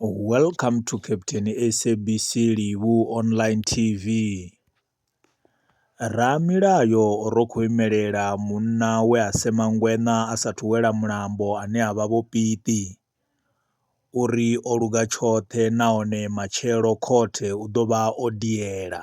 Welcome to Captain SABC Livhu online TV. Ramilayo o ro kho imelela munna we a sema ngweṋa a sa thu wela mulambo ane avha vho piṱi uri o luga tshoṱhe nahone matshelo khothe u ḓo vha o diela.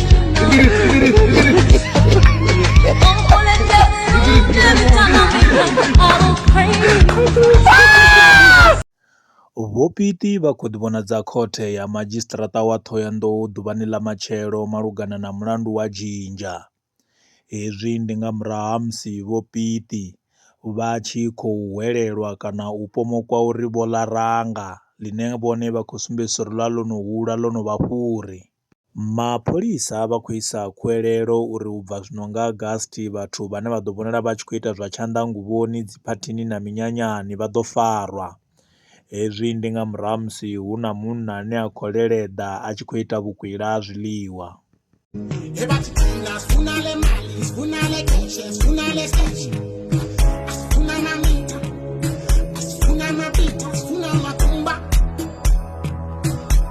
Vhopiti vha khou ḓivhonadza khothe ya madzhisiṱiraṱa wa Thohoyandou ḓuvhani ḽa matshelo malugana na mulandu wa Jinja. Hezwi ndi nga murahu ha musi Vho Piti vha tshi khou hwelelwa kana u pomokwa uri vho ḽa ranga, ḽine vhone vha khou sumbedzisa uri ḽa ḽo no hula ḽo no vha fhuri. Mapholisa vha khou isa khuwelelo uri u bva zwino nga August vhathu vhane vha ḓo vhonala vha tshi khou ita zwa tshanḓanguvhoni, dziphathini na minyanyani vha ḓo farwa. Hezwi ndi nga murahu ha musi hu na munna ane a khou leleḓa a tshi khou ita vhukwila ha zwiḽiwa.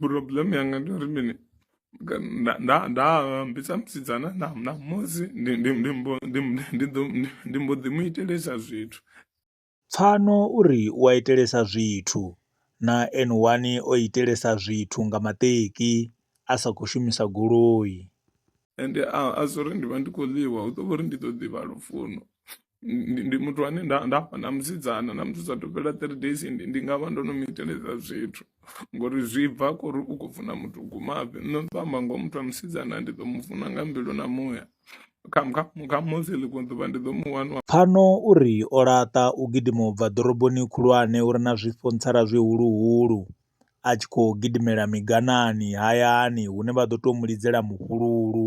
problem yanga ndori mini ndaambisa musidzana namusi ndi mbo ḓi mu itelesa zwithu pfano uri u a itelesa zwithu na n one o itelesa zwithu nga maṱeki a sa khou shumisa goloi ende a zwo uri ndi vha ndi khou ḽiwa hu ḓo vha uri ndi ḓo ḓivha lufuno ndi ndi muthu ane nda nda fha na musidzana na musi sa thu fhela three days ndi ndi nga vha ndo no mu iteleza zwithu ngori zwi bva khori u khou funa muthu u gumafhi nṋe ndi ḓo amba ngoho muthu wa musidzana ndi ḓo mu funa nga mbilu na muya kha kha kha musi ḽiṅwe ḓuvha ndi ḓo mu wana Pfano u ri o laṱa u gidima u bva ḓoroboni khulwane uri na zwifho ntsala zwihuluhulu a tshi khou gidimela miganani hayani hune vha ḓo tou mu lidzela mufhululu.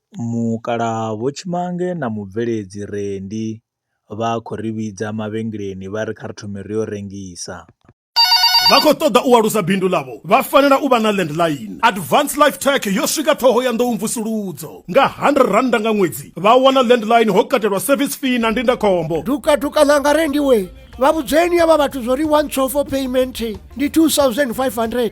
Mukalaha Vho Tshimange na mubveledzi Rendi vha khou ri vhidza mavhengeleni vha ri kha ri thome ri yo rengisa. Vha khou ṱoḓa u alusa bindu ḽavho vha fanela u vha na landline. Advance Life Tech yo swika Ṱhohoyanḓou Mvusuludzo. Nga R100 nga ṅwedzi vha wana landline ho katelwa service fee na ndindakhombo. Dukaduka ḽanga Rendi wee! Vha vhudzeni avha vhathu zwo ri one call for payment ndi R2500.